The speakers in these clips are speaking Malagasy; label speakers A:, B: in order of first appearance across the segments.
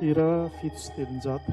A: Hira fito sy telonjato.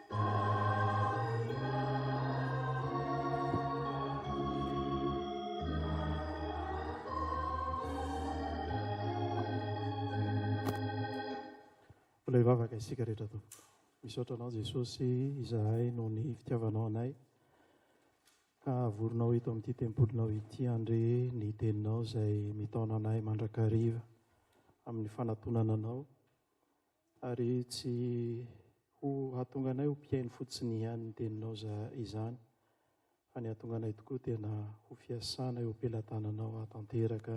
A: Mbola hivavaka isika rehetra tompoko. Misaotra anao Jesosy izahay noho ny fitiavanao anay. Havorinao eto amin'ity tempolinao ity andre ny teninao izay mitaona anay mandrakariva amin'ny fanatonana anao. Ary tsy ho hahatonga anay ho mpihaino fotsiny ihany ny Teninao za izany, fa ny hahatonga anay tokoa tena ho fiasana eo am-pelatananao hahatanteraka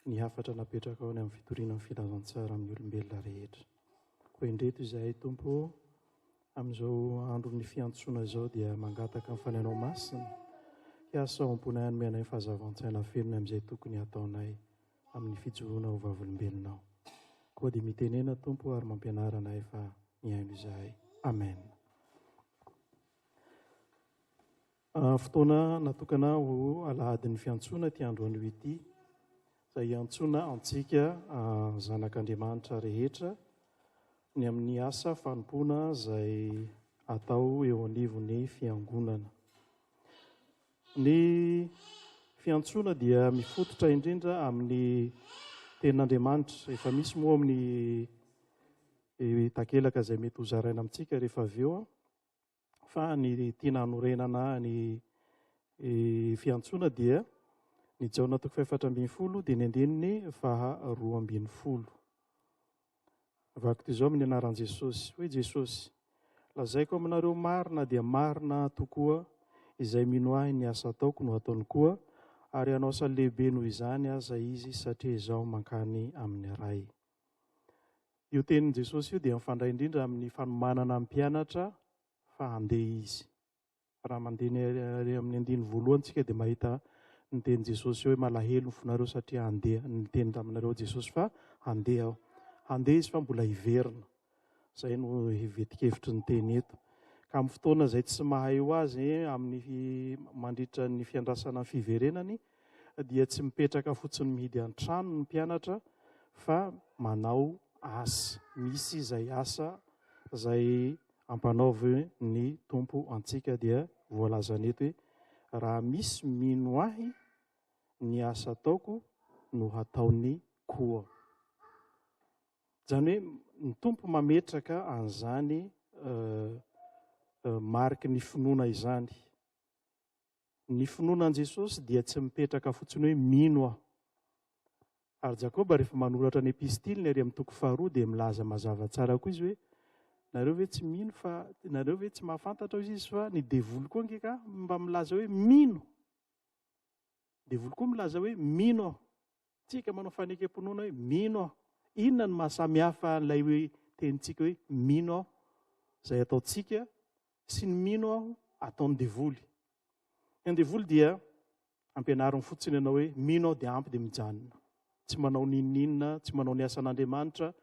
A: ny hafatra napetrakao ny amin'ny fitoriana ny Filazantsara amin'ny olombelona rehetra. Koa indreto izahay, Tompo ô, amin'izao andron'ny fiantsoana izao dia mangataka ny Fanahinao Masina hiasa ao am-ponay hanome anay ny fahazavan-tsaina feno ny amin'izay tokony hataonay. amin'ny fijoroana ho vavolombelona aho. Koa dia mitenena Tompo ary mampianara anay fa mihaino izahay. Amen. Ah, fotoana natokana ho alahadin'ny fiantsoana ity andro anio ity, izay hiantsoana antsika ah, zanak'Andriamanitra rehetra ny amin'ny asa fanompoana izay atao eo anivon'ny fiangonana. Ny fiantsoana dia mifototra indrindra amin'ny tenin'Andriamanitra. Efa misy moa ao amin'ny takelaka izay mety hozaraina amintsika rehefa avy eo fa ny tiana hanorenana ny fiantsoana dia ny Jaona toko fahefatra ambin'ny folo dia ny andininy faharoa ambin'ny folo. Vaktizao amin'ny anaran'i Jesosy. Hoy Jesosy, Lazaiko aminareo marina dia marina tokoa, izay mino ahy ny asa ataoko no hataony koa, ary hanao asa lehibe noho izany aza izy satria izaho mankany amin'ny Ray. Io tenin'i Jesosy io dia mifandray indrindra amin'ny fanomanana ny mpianatra fa handeha izy. Raha mandeha ny ary amin'ny andiny voalohany tsika dia mahita ny teny Jesosy hoe malahelo ny fonareo satria handeha niteny taminareo Jesosy fa handeha aho. Handeha izy fa mbola hiverina. Zay no hivetikevitry ny teny eto. Ka amin'ny fotoana izay tsy mahay ho azy amin'ny mandritra ny fiandrasana ny fiverenany dia tsy mipetraka fotsiny mihidy an-trano ny mpianatra fa manao asa. Misy izay asa izay Ampanaovy ny Tompo antsika dia voalazany eto hoe, Raha misy mino Ahy, ny asa ataoko no hataony koa. Izany hoe ny Tompo mametraka an'izany mariky ny finoana izany. Ny finoana an'i Jesosy dia tsy mipetraka fotsiny hoe mino aho. Ary Jakoba rehefa manoratra ny epistiliny ary amin'ny toko faharoa dia milaza mazava tsara koa izy hoe nareo ve tsy mino fa nareo ve tsy mahafantatra hoy izy fa ny devoly koa ange ka mba milaza hoe mino. Devoly koa milaza hoe mino aho. Tsika manao fanekem-pinoana hoe mino aho. Inona no mahasamihafa an'ilay hoe tenintsika hoe mino aho izay ataontsika sy ny mino aho ataon'ny devoly? Ny an'ny devoly dia ampianariny fotsiny ianao hoe mino aho dia ampy dia mijanona. Tsy manao n'inon'inona, tsy manao ny asan'Andriamanitra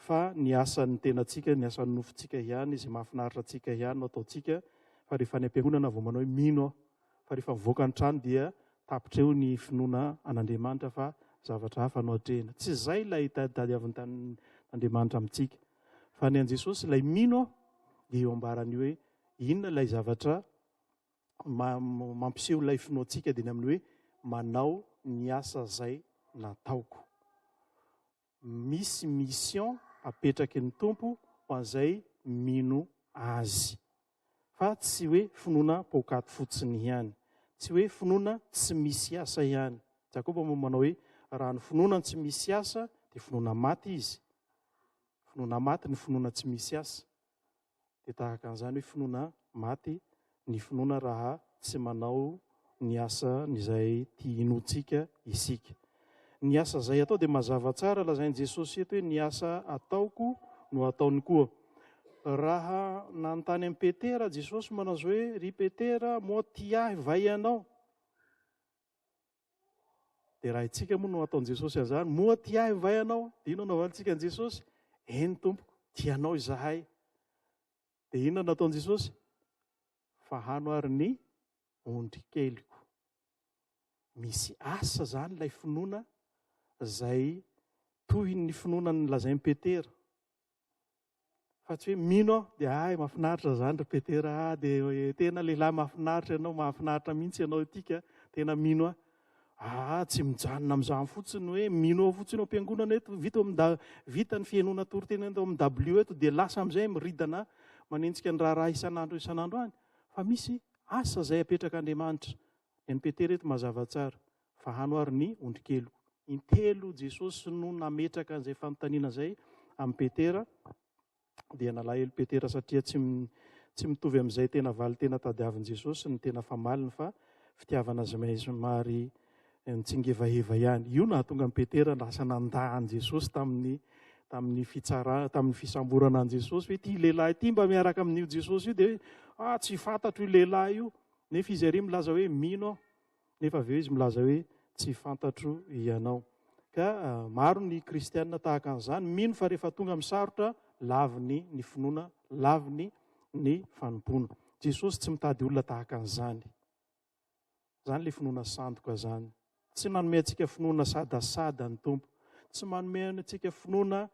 A: fa ny asan'ny tenantsika, ny asan'ny nofontsika ihany, izay mahafinaritra antsika ihany no ataontsika fa rehefa any am-piangonana vao manao hoe mino aho. fa rehefa mivoaka ny trano dia tapitra eo ny finoana an'Andriamanitra fa zavatra hafa no atrehina. Tsy izay ilay tadiavin'ny tanin'Andriamanitra amintsika. Fa ny an'i Jesosy, ilay mino aho, dia eo ambaran'ny hoe inona ilay zavatra mampiseho ilay finoantsika dia ny amin'ny hoe manao ny asa izay nataoko. misy mission apetraky ny Tompo ho an'izay mino Azy. Fa tsy hoe finoana poakaty fotsiny ihany. Tsy hoe finoana tsy misy asa ihany. Jakoba moa manao hoe, raha ny finoana tsy misy asa dia finoana maty izy. Finoana maty ny finoana tsy misy asa. Dia tahaka an'izany hoe finoana maty ny finoana raha tsy manao ny asan'izay tia hinoantsika isika. Ny asa izay atao dia mazava tsara, lazain'i Jesosy eto hoe ny asa ataoko no ataony koa. Raha nanontany an'i Petera Jesosy manao izao hoe, Ry Petera, moa tia Ahy va ianao? Dia raha itsika moa no ataon'i Jesosy an'izany, moa tia ahy va ianao? Dia inona no havalintsika an'i Jesosy? Eny tompoko, tia anao izahay. Dia inona no ataon'i Jesosy? Fahano ary ny ondry keliko. Misy asa izany ilay finoana izay toy ny finoana ny lazain'i Petera. Fa tsy hoe mino aho dia hay mahafinaritra izany ry Petera ah dia tena lehilahy mahafinaritra ianao, mahafinaritra mihitsy ianao ity ka tena mino aho. Ah, tsy mijanona amin'izany fotsiny hoe mino aho fotsiny ao am-piangonana eto, vita ao amin'ny vita ny fihainoana toriteny eto amin'ny dabilio eto dia lasa amin'izay miridana manenjika ny raharaha isan'andro isan'andro any. Fa misy asa izay apetrak'Andriamanitra MPT reto mazava tsara fa hanoharo ny ondrikeliko. Intelo Jesosy no nametraka an'izay fanontaniana izay amin'i Petera, dia nalahelo Petera satria tsy tsy mitovy amin'izay tena valin-tena tadiavin'i Jesosy ny tena famaliny fa fitiavana zmay somary nitsingevaheva ihany. Io nahatonga an'i Petera lasa nandà an'i Jesosy tamin'ny tamin'ny fitsara tamin'ny fisamborana an'i Jesosy hoe ity lehilahy ity mba miaraka amin'io Jesosy io dia hoe ah tsy fantatro io lehilahy io. Nefa izy ery milaza hoe mino aho, nefa avy eo izy milaza hoe tsy fantatro ianao. Ka maro ny kristiana tahaka an'izany, mino fa rehefa tonga amin'ny sarotra, laviny ny finoana, laviny ny fanompoana. Jesosy tsy mitady olona tahaka an'izany. Izany ilay finoana sandoka izany. Tsy manome antsika finoana sadasada ny Tompo. Tsy manome antsika finoana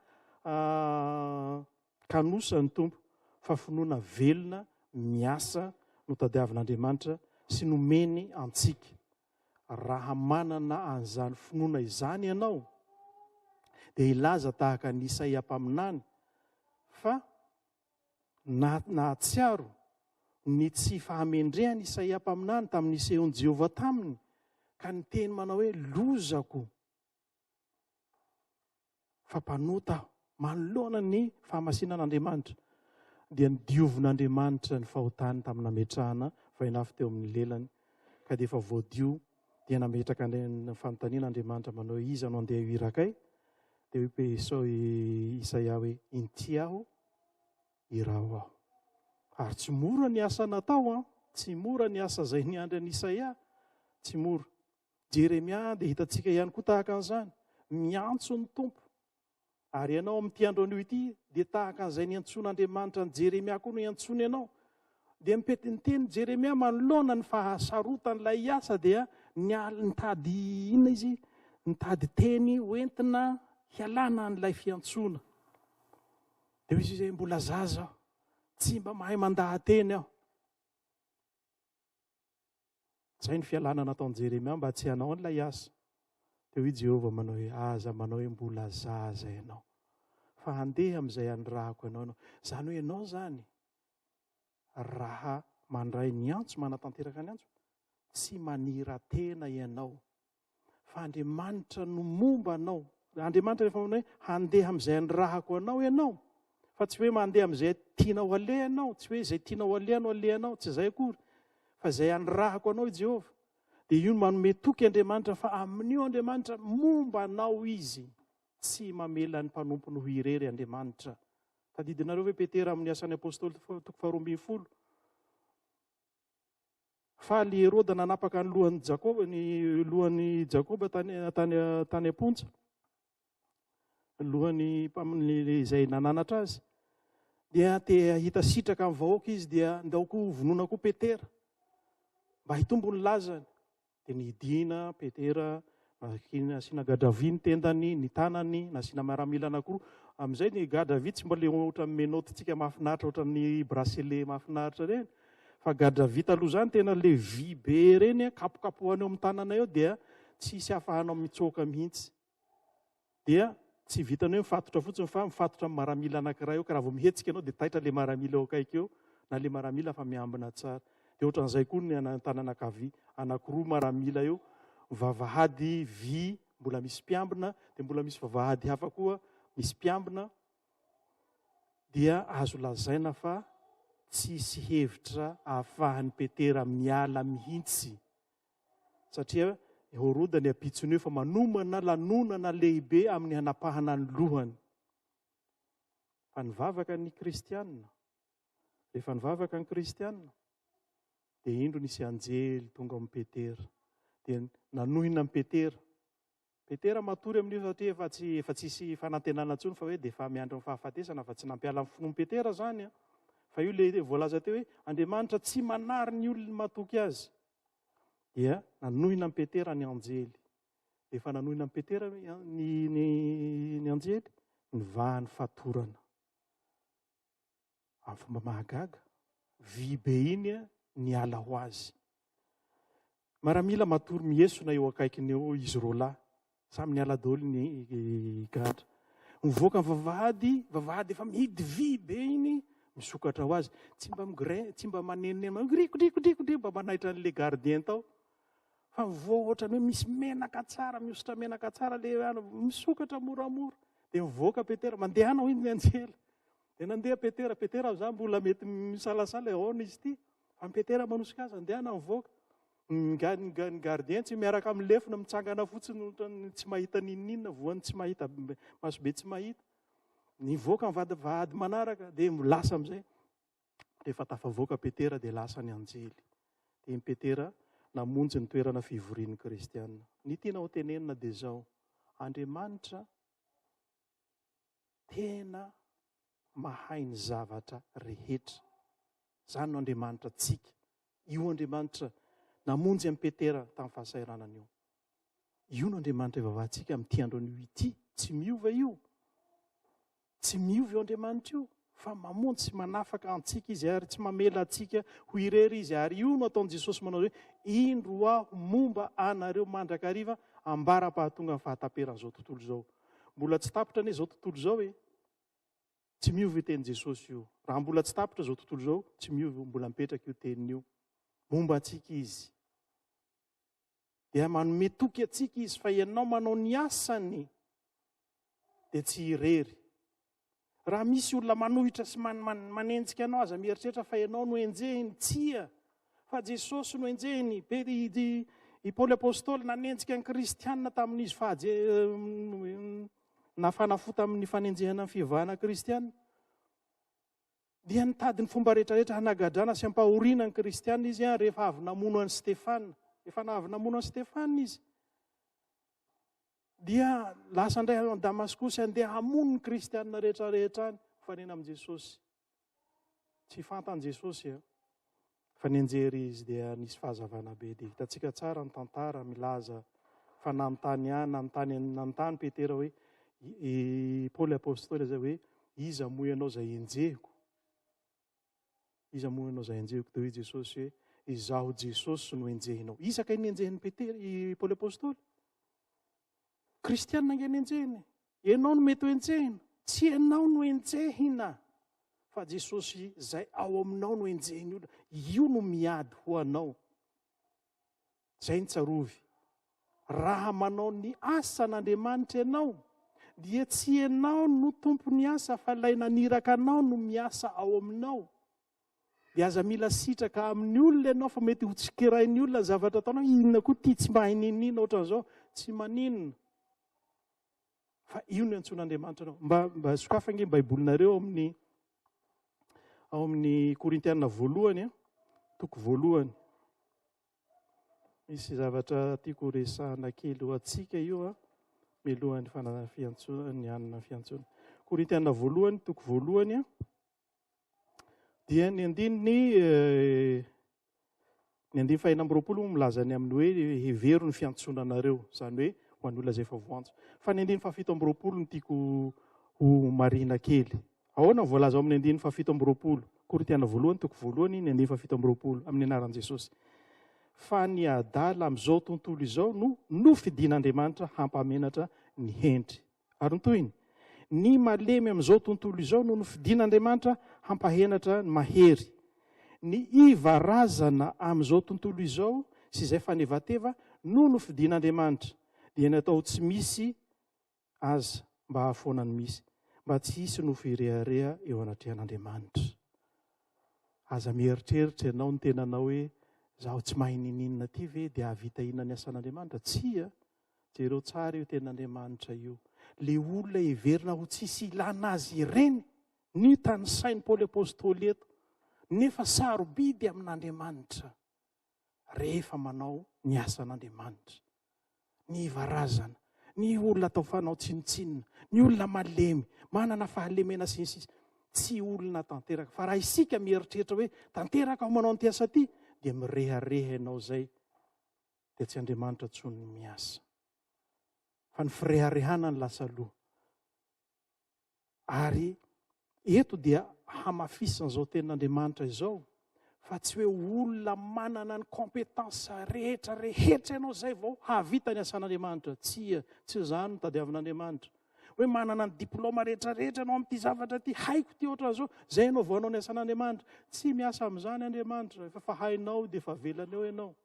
A: ah, Kanosa ny Tompo fa finoana velona miasa no tadiavin'Andriamanitra sy nomeny antsika. Raha manana an'izany finoana izany ianao, dia hilaza tahaka an'i Isaia mpaminany fa na, nahatsiaro ny tsy fahamendrehan'i Isaia mpaminany tamin'ny nisehoan'i Jehovah taminy, ka niteny manao hoe, Lozako! Fa mpanota aho. Manoloana ny fahamasinan'Andriamanitra, dia nodiovin'Andriamanitra ny fahotany tamin'ny nametrahana vainafo teo amin'ny lelany, ka dia efa voadio, dia nametraka ny fanontaniana Andriamanitra manao hoe iza no andeha hiraka ahy? Dia hoe Esao i Isaia hoe inty aho, iraho aho. Ary tsy mora ny asa natao an, tsy mora ny asa izay niandry an'i Isaia, tsy mora. Jeremia dia hitantsika ihany koa tahaka an'izany, miantso ny Tompo. Ary ianao amin'ity andro anio ity dia tahaka an'izay niantsoan'Andriamanitra an'i Jeremia koa no iantsoany ianao. Dia mipety ny teny Jeremia manoloana ny fahasarotan'ilay asa dia nial- nitady inona izy? Nitady teny hoentina hialana an'ilay fiantsoana. Dia hoy izy izay mbola zaza aho, tsy mba mahay mandaha-teny aho. Izay ny fialana nataon'i Jeremia mba tsy hanao an'ilay asa. Dia hoy Jehovah manao hoe, aza manao hoe mbola zaza ianao, fa handeha amin'izay hanirahako anao ianao. Izany hoe ianao izany, raha mandray ny antso, manatanteraka ny antso, tsy manira-tena ianao Fa Andriamanitra no momba anao. Andriamanitra rehefa manao hoe handeha amin'izay anirahako anao ianao, fa tsy hoe mandeha amin'izay tianao aleha ianao, tsy hoe izay tianao aleha no alehanao, tsy izay akory. Fa izay anirahako anao i Jehovah. Dia io no manome toky Andriamanitra fa amin'io Andriamanitra momba anao izy. Tsy mamela ny mpanompony ho irery Andriamanitra. Tadidinareo ve Petera amin'ny asan'ny apostoly toko faharoa ambin'ny folo? Faly i Heroda nanapaka ny lohan'i Jakoba, ny lohan'i Jakoba tany, tany, tany am-ponja, ny lohan'ny mpamin'ny izay nananatra azy. Dia te hahita sitraka amin'ny vahoaka izy, dia ndao koa hovonoina koa Petera, mba hitombo ny lazany. Dia nidina Petera, nasiana gadra vy ny tendany, ny tanany, nasiana miaramila anankiroa. Amin'izay ny gadra vy tsy mba ilay ohatran'ny menottes-ntsika mahafinaritra, ohatran'ny bracelet mahafinaritra ireny. Fa gadra vy taloha izany tena ilay vy be ireny, kapokapohana eo amin'ny tanana eo dia tsy hisy afahanao mitsoaka mihitsy. dia tsy vitan'ny hoe mifatotra fotsiny fa mifatotra amin'ny maramila anankiray eo ka raha vao mihetsika ianao dia taitra ilay maramila eo akaiky eo na ilay maramila fa miambina tsara dia ohatran'izay koa ny anantanana kavia anakiroa maramila eo vavahady vy mbola misy mpiambina dia mbola misy vavahady hafa koa misy mpiambina dia azo lazaina fa tsisy hevitra ahafahan'ny petera miala mihitsy satria i Horoda ny ampitson'io fa manomana lanonana lehibe amin'ny hanapahana ny lohany. Fa nivavaka ny kristianina. Rehefa nivavaka ny kristianina, dia indro nisy anjely tonga amin'i Petera. Dia nanohina an'i Petera. Petera matory amin'io satria efa tsy efa tsy hisy fanantenana intsony fa hoe dia efa miandry ny fahafatesana fa tsy nampiala ny finoan'i Petera izany an. Fa io ilay voalaza teo hoe Andriamanitra tsy manary ny olony matoky azy. Dia nanohina an'i Petera ny anjely. Dia efa nanohina an'i Petera ny, ny, ny, ny anjely, nivahany fatorana. amin'ny fomba mahagaga, vy be iny niala ho azy. Maramila matory mihesona eo akaikiny eo izy roa lahy, samy niala daholo ny gadra. Mivoaka ny vavahady, vavahady efa mihidy vy be iny, misokatra ho azy. Tsy mba migrin, tsy mba manenoneno, mandriko, driko, driko, driko, mba manaitra an'ilay gardien tao. Fa mivoa ohatran'ny hoe misy menaka tsara, mihosotra menaka tsara, le misokatra moramora. Dia mivoaka Petera, mandehana hoy ny anjely. Dia nandeha Petera, Petera amin'izany mbola mety misalasala hoe ahoana izy ity. Fa ny Petera manosika azy, andehana mivoaka. Ny ga- ny ga- ny gardien tsy miaraka amin'ny lefona, mitsangana fotsiny ohatran'ny tsy mahita n'inon'inona, voan'ny tsy mahita, be- masobe tsy mahita. Nivoaka ny vady vady manaraka, dia lasa amin'izay. Rehefa tafavoaka Petera, dia lasa ny anjely. Dia i Petera namonjy ny toerana fivorian'ny Kristianina. Ny tiana ho tenenina dia izao, Andriamanitra tena mahay ny zavatra rehetra. Izany no Andriamanitra antsika. Io Andriamanitra namonjy an'i Petera tamin'ny fahasahiranana io. Io no Andriamanitra ivavahantsika amin'ity andron'io ity. Tsy miova io. Tsy miova io Andriamanitra io. Fa mamonjy sy manafaka antsika izy ary tsy mamela antsika ho irery izy. Ary io no ataon'i Jesosy manao hoe, indro aho momba anareo mandrakariva ambara-pahatongan'ny fahataperan'izao tontolo izao. Mbola tsy tapitra anie izao tontolo izao e. Tsy miova io tenin'i Jesosy io. Raha mbola tsy tapitra izao tontolo izao, tsy miova io, mbola mipetraka io teniny io. Momba antsika izy. Dia manome toky antsika izy fa ianao manao ny asany dia tsy irery. Raha misy olona manohitra sy man, man, manenjika anao, aza mieritreritra fa ianao no enjehiny. Tsia, fa Jesosy no enjehiny. Be, i, i, i Paoly Apôstôly nanenjika ny Kristianina tamin'izy fahaje, nafana fo tamin'ny fanenjehana ny fivavahana kristianina. Dia nitady ny fomba rehetrarehetra hanagadrana sy hampahoriana ny kristianina izy an, rehefa avy namono an'i Stefana. Efa avy namono an'i Stefana izy. Dia lasa indray any Damaskosy handeha hamono ny kristianina rehetra rehetra any, mifanena amin'i Jesosy. Tsy fantan'i Jesosy eh. Fa nianjera izy dia nisy fahazavana be. Dia hitantsika tsara ny tantara milaza fa nanontany ahy, nanontany nanontany Petera hoe i Paoly apostoly izay hoe iza moa ianao izay enjehiko? Iza moa ianao izay enjehiko? Dia hoy Jesosy hoe, Izaho Jesosy no enjehinao. Iza kay ny enjehin'i Petera, i Paoly Apostoly? Kristianina ange ny enjehiny. Ianao no mety ho enjehina. Tsy ianao no enjehina, fa Jesosy izay ao aminao no enjehin'ny olona. Io no miady ho anao. Izay ny tsarovy. Raha manao ny asan'Andriamanitra ianao, dia tsy ianao no tompon'ny asa fa ilay naniraka anao no miasa ao aminao. Dia aza mila sitraka amin'ny olona ianao fa mety ho tsikerain'ny olona ny zavatra ataonao, inona koa ity tsy mahay ninina ohatran'izao, tsy maninona. Fa io no antsoin'Andriamanitra anao. Mba, mba sokafa ange ny Baibolinareo amin'ny ao amin'ny Korintiana voalohany, toko voalohany. Misy zavatra tiako ho resahana kely ho antsika io a, mialohan'ny fananana fiantsoana, ny hanana fiantsoana. Korintiana voalohany, toko voalohany a, dia ny andininy eh, ny andininy fahina amby roapolo milaza ny amin'ny hoe hevero ny fiantsoana anareo, izany hoe ho an'olona izay efa voantso. Fa ny andininy fahafito amby roapolo no tiako ho marina kely, Ahoana ny voalaza ao amin'ny andininy fahafito amby roapolo Korintiana voalohany toko voalohany ny andininy fahafito amby roapolo amin'ny anaran'i Jesosy fa ny adala amin'izao tontolo izao no nofidin'Andriamanitra hampamenatra ny hendry. Ary ny tohiny, ny malemy amin'izao tontolo izao no nofidin'Andriamanitra hampahenatra ny mahery. Ny iva razana amin'izao tontolo izao sy izay fanevateva no nofidin'Andriamanitra, dia ny atao tsy misy Aza mba hahafoana ny misy, mba tsy hisy nofo hirehareha eo anatrehan'Andriamanitra. Aza mieritreritra ianao ny tenanao hoe, izaho tsy mahay ninininona ity ve dia hahavita inona ny asan'Andriamanitra? Tsia! Jereo tsara io tenan'Andriamanitra io. Ilay olona heverina ho tsisy ilana azy ireny no tanisain'i Paoly Apostoly eto, nefa sarobidy amin'Andriamanitra. rehefa manao ny asan'Andriamanitra. Ny varazana, ny olona atao fanao tsinontsinona, ny olona malemy, manana fahalemena sy ny sisa. Tsy olona tanteraka. Fa raha isika mieritreritra hoe tanteraka aho manao an'ity asa ity, dia mirehareha ianao izay, dia tsy Andriamanitra intsony ny miasa. Fa ny fireharehana no lasa loha. Ary eto dia hamafisin'izao tenin'Andriamanitra izao fa tsy hoe olona manana ny compétence rehetra rehetra ianao izay vao hahavita ny asan'Andriamanitra. Tsia, tsy izany no tadiavin'Andriamanitra. Hoe manana ny diplôma rehetra rehetra ianao amin'ity zavatra ity, haiko ity ohatran'izao, izay ianao vao hanao ny asan'Andriamanitra. Tsy miasa amin'izany Andriamanitra, efa hainao dia efa avelany eo ianao.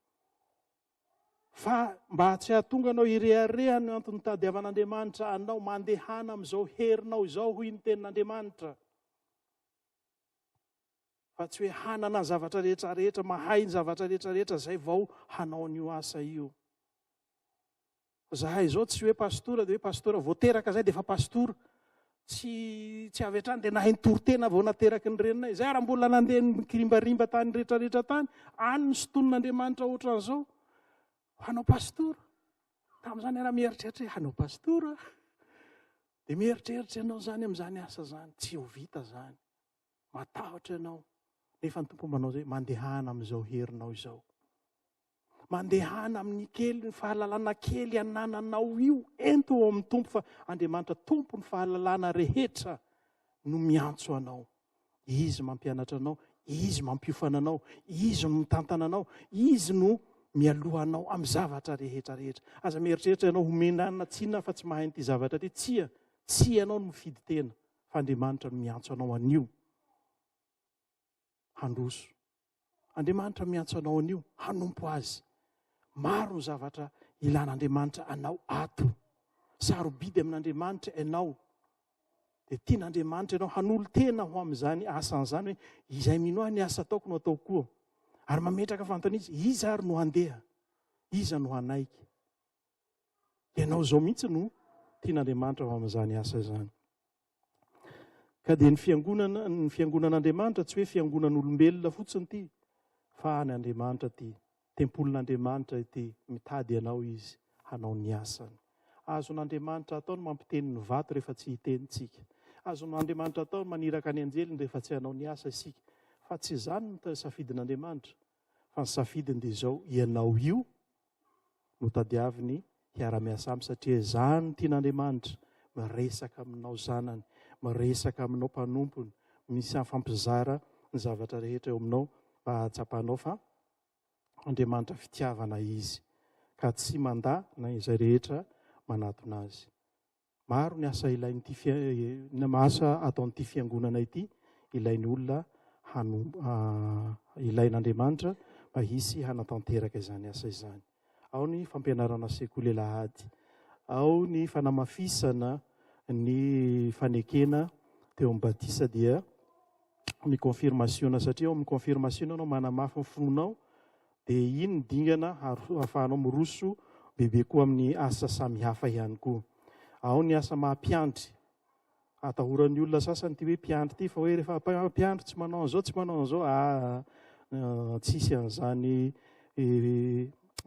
A: Fa mba tsy hahatonga anao hirehareha no antony nitadiavan'Andriamanitra anao, mandehana amin'izao herinao izao, hoy ny tenin'Andriamanitra. Fa tsy hoe hanana ny zavatra rehetra rehetra, mahay ny zavatra rehetra rehetra, izay vao hanao an'io asa io. Fa zahay izao tsy hoe pastora dia hoe pastora, vao teraka izay dia efa pastora. Tsy, tsy avy hatrany dia nahay nitory tena vao nateraky ny reninay. Izay ary mbola nandeha nikirimbarimbà tany rehetrarehetra tany, any no sintonin'Andriamanitra ohatran'izao. Hanao pastora. Tamin'izany ianao mieritreritra hoe hanao pastora. Dia mieritreritra ianao izany amin'izany asa izany. Tsy ho vita izany. Matahotra ianao. Nefa ny Tompo manao izay, mandehana amin'izao herinao izao. Mandehana amin'ny kely ny fahalalana kely anananao io, ento ao amin'ny Tompo fa Andriamanitra Tompo ny fahalalana rehetra no miantso anao. Izy mampianatra anao, Izy mampiofana anao, Izy no mitantana anao, Izy no mialoha anao amin'ny zavatra rehetra rehetra. Aza mieritreritra ianao ho menana tsinona fa tsy mahay an'ity zavatra ity. Tsia, tsy ianao no mifidy tena fa Andriamanitra no miantso anao anio. handroso. Andriamanitra miantso anao anio hanompo azy. Maro ny zavatra ilan'Andriamanitra anao ato. Sarobidy amin'Andriamanitra ianao. Dia tian'Andriamanitra ianao hanolo-tena ho amin'izany asan'izany hoe izay mino ahy ny asa ataoko no ataoko koa. Ary mametraka fantany izy, iza ary no handeha? Iza no hanaiky? Ianao izao mihitsy no tian'Andriamanitra ho amin'izany asa izany. Ka dia ny fiangonana, ny fiangonan'Andriamanitra tsy hoe fiangonan'olombelona fotsiny ity, fa any Andriamanitra ity. Tempolin'Andriamanitra ity, mitady anao izy hanao ny asany. Azon'Andriamanitra atao ny mampiteny ny vato rehefa tsy hiteny tsika. Azon'Andriamanitra atao ny maniraka ny anjeliny rehefa tsy hanao ny asa isika. Fa tsy izany ny safidin'Andriamanitra. Fa ny safidiny dia izao, ianao io no tadiaviny hiara-miasa aminy satria izany no tian'Andriamanitra, miresaka aminao zanany, miresaka aminao mpanompony, misy afampizara ny zavatra rehetra eo aminao mba hahatsapanao fa Andriamanitra fitiavana Izy ka tsy mandà na izay rehetra manatona Azy. Maro ny asa ilain'ity fian asa ataon'ity fiangonana ity ilain'ny olona hanomboha ilain'Andriamanitra mba hisy hanatanteraka izany asa izany. Ao ny fampianarana sekoly alahady, ao ny fanamafisana ny fanekena teo amin'ny batisa dia ny confirmation satria ao amin'ny confirmation ianao manamafy ny finoanao Dia iny ny dingana ahafahanao miroso bebe koa amin'ny asa samihafa ihany koa. Ao ny asa maha mpiandry. Atahoran'ny olona sasany ity hoe mpiandry ity fa hoe rehefa mpiandry tsy manao an'izao, tsy manao an'izao. Aa tsisy an'izany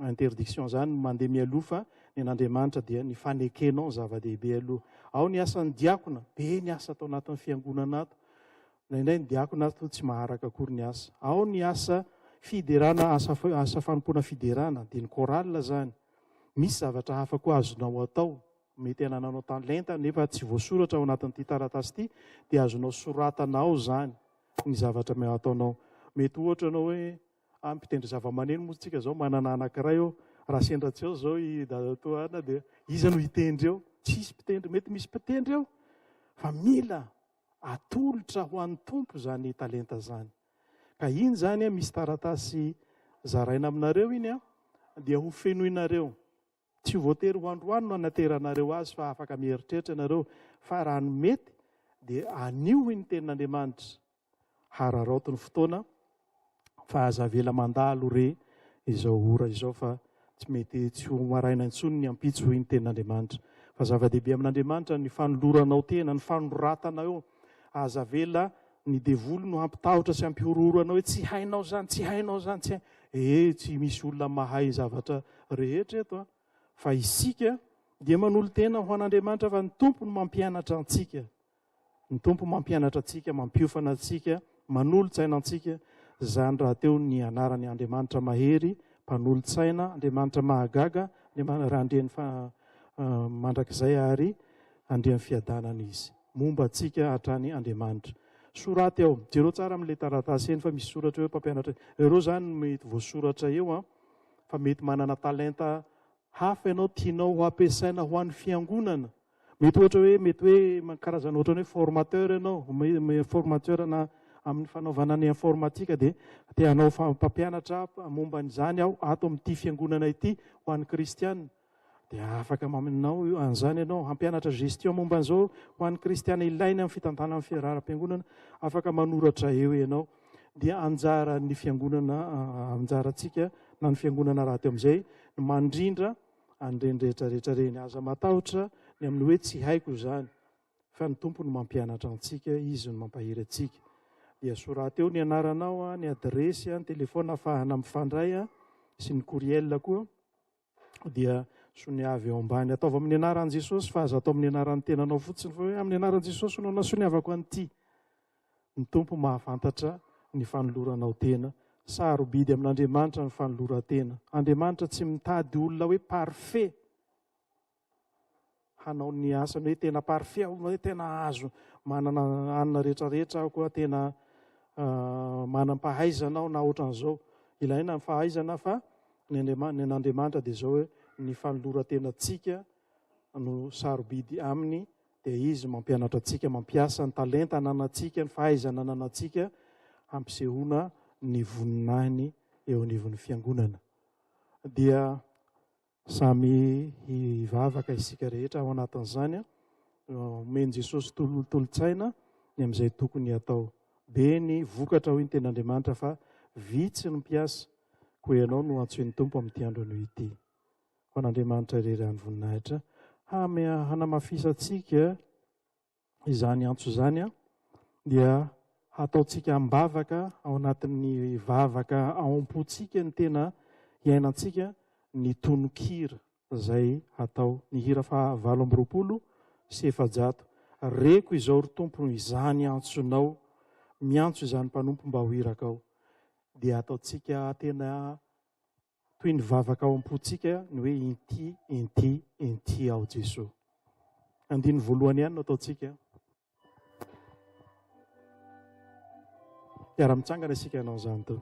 A: interdiction izany mandeha mialoha fa ny an'Andriamanitra dia ny fanekenao ny zava-dehibe aloha. Ao ny asan'ny diakona, be ny asa ato anatin'ny fiangonana ato. Indraindray ny diakona ary toa tsy maharaka akory ny asa. Ao ny asa fiderana, asa, asa fanompoana fiderana, dia ny chorale zany. Misy zavatra hafa koa azonao atao, mety anananao talenta nefa tsy voasoratra ao anatin'ity taratasy ity, dia azonao soratana ao zany ny zavatra me- ataonao. Mety ohatra ianao hoe, ah, mpitendry zavamaneno moa tsika zao, manana anankiray eo, raha sendra tsy ao zao i dadatoa Ana dia iza no hitendry eo? Tsy hisy mpitendry, mety misy mpitendry eo fa mila Atolotra ho an'ny Tompo izany talenta izany. Ka iny izany, misy taratasy zaraina aminareo iny an, dia ho fenoinareo. Tsy ho voatery ho androany no hanateranareo azy fa afaka mieritreritra ianareo fa raha ny mety dia anio iny tenin'Andriamanitra. Hararaoty ny fotoana. fa aza avela mandalo re izao ora izao fa tsy mety tsy ho maraina intsony ny ampitso hoy ny tenin'Andriamanitra fa zava-dehibe amin'Andriamanitra ny fanoloranao tena ny fanoratana eo aza avela ny devoly no hampitahotra sy hampihorohoro anao hoe tsy hainao zany tsy hainao zany tsy hainao ee eh, tsy misy olona mahay zavatra rehetra eto a fa isika dia manolo-tena ho an'Andriamanitra fa ny tompo no mampianatra antsika Ny Tompo mampianatra antsika, mampiofana antsika, manolo-tsaina antsika, izany rahateo ny anarany Andriamanitra mahery, mpanolo-tsaina, Andriamanitra mahagaga, Andriamanitra Andrian'ny mandrakizay ary Andrian'ny fiadanana Izy. Momba antsika hatrany Andriamanitra. Soraty ao, jereo tsara amin'ilay taratasy eny fa misy soratra eo mpampianatra, ireo izany no mety voasoratra eo an, fa mety manana talenta hafa ianao tianao ho ampiasaina ho an'ny Fiangonana. Mety ohatra hoe mety hoe karazana ohatra ny hoe formateur ianao, mi- formateur na amin'ny fanaovana ny informatika dia te hanao fa- mpampianatra momba an'izany aho ato amin'ity fiangonana ity ho an'ny kristiana. Dia afaka maminao io an'izany ianao, hampianatra gestion momba an'izao ho an'ny kristiana ilaina amin'ny fitantanana ny fiaraharam-piangonana, afaka manoratra eo ianao. Dia anjaran'ny fiangonana, anjarantsika na ny fiangonana rahateo amin'izay ny mandrindra an'ireny rehetra rehetra ireny. Aza matahotra ny amin'ny hoe tsy haiko izany, fa ny Tompo no mampianatra antsika, Izy no mampahery antsika. Dia soraty eo ny anaranao, ny adiresy, ny telefaona afahana mifandray sy ny courriel koa. Dia soniavy ao ambany. Ataovy amin'ny anaran'i Jesosy fa aza atao amin'ny anaran'ny tenanao fotsiny fa hoe amin'ny anaran'i Jesosy no nasoniavako an'ity. Ny Tompo mahafantatra ny fanoloranao tena. Sarobidy amin'Andriamanitra ny fanoloran-tena. Andriamanitra tsy mitady olona hoe parfait hanao ny asany hoe tena parfait aho, hoe tena azo manana anina rehetra rehetra aho koa tena ah, manam-pahaizana aho na ohatran'izao. Ilaina ny fahaizana fa ny an'Andriamanitra dia izao hoe ny fanoloran-tenantsika no sarobidy aminy dia Izy mampianatra antsika, mampiasa ny talenta ananantsika, ny fahaizana ananantsika hampisehoana ny voninahiny eo anivon'ny fiangonana. Dia samy hivavaka isika rehetra ao anatin'izany, omen'i Jesosy tolotolotsaina ny amin'izay tokony hatao. Be ny vokatra hoy ny tenin'Andriamanitra fa vitsy ny mpiasa, koa ianao no antsoin'ny Tompo amin'ity andro anio ity. ho an'Andriamanitra irery any voninahitra. Hanamafisantsika izany antso izany dia hataontsika am-bavaka ao anatin'ny vavaka ao am-pontsika ny tena iainantsika ny tononkira izay hatao ny hira faha valo amby roapolo sy efajato. Reko izao ry Tompo izany antsonao, miantso izany mpanompo mba ho irakao. Dia ataontsika tena Toy ny vavaka ao am-pontsika ny hoe inty, inty, inty aho Jesoa. Andininy voalohany ihany no ataontsika. Mpiara-mitsangana isika hanao izany toa.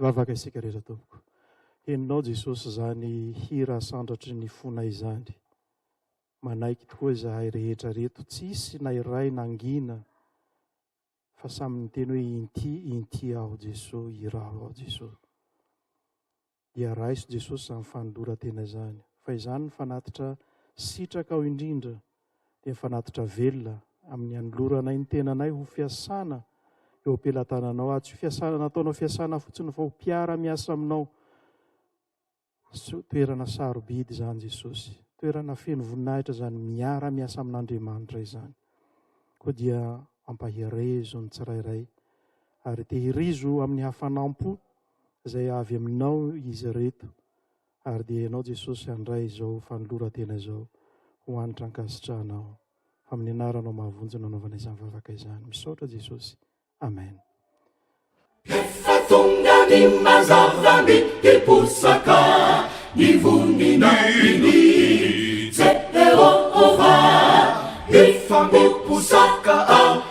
A: Vavaka isika rehetra tompoko. Henonao Jesosy izany hira sandratry ny fonay izany. Manaiky tokoa izahay rehetra reto, tsisy na iray nangina fa samy niteny hoe inty inty aho Jesosy, iraho aho Jesosy. dia raiso Jesosy izany fanoloran-tena izany, fa izany ny fanatitra sitrakao indrindra, dia fanatitra velona amin'ny hanoloranay ny tenanay ho fiasana eo am-pelatananao, ary tsy ho fiasana nataonao fiasana fotsiny fa ho mpiara-miasa aminao. Toerana sarobidy izany Jesosy, toerana feno voninahitra izany miara-miasa amin'Andriamanitra izany. Koa dia ampaherezo ny tsirairay ary tehirizo amin'ny hafanam-po izay avy Aminao izy ireto, ary dia Ianao Jesosy handray izao fanoloran-tena izao ho hanitra ankasitrahanao. Amin'ny Anaranao mahavonjy no anaovana izany vavaka izany. Misaotra Jesosy. Amen.
B: Efa tonga ny mazava ny hiposaka ny voninahiny Jehovah, hifampiposaka ao.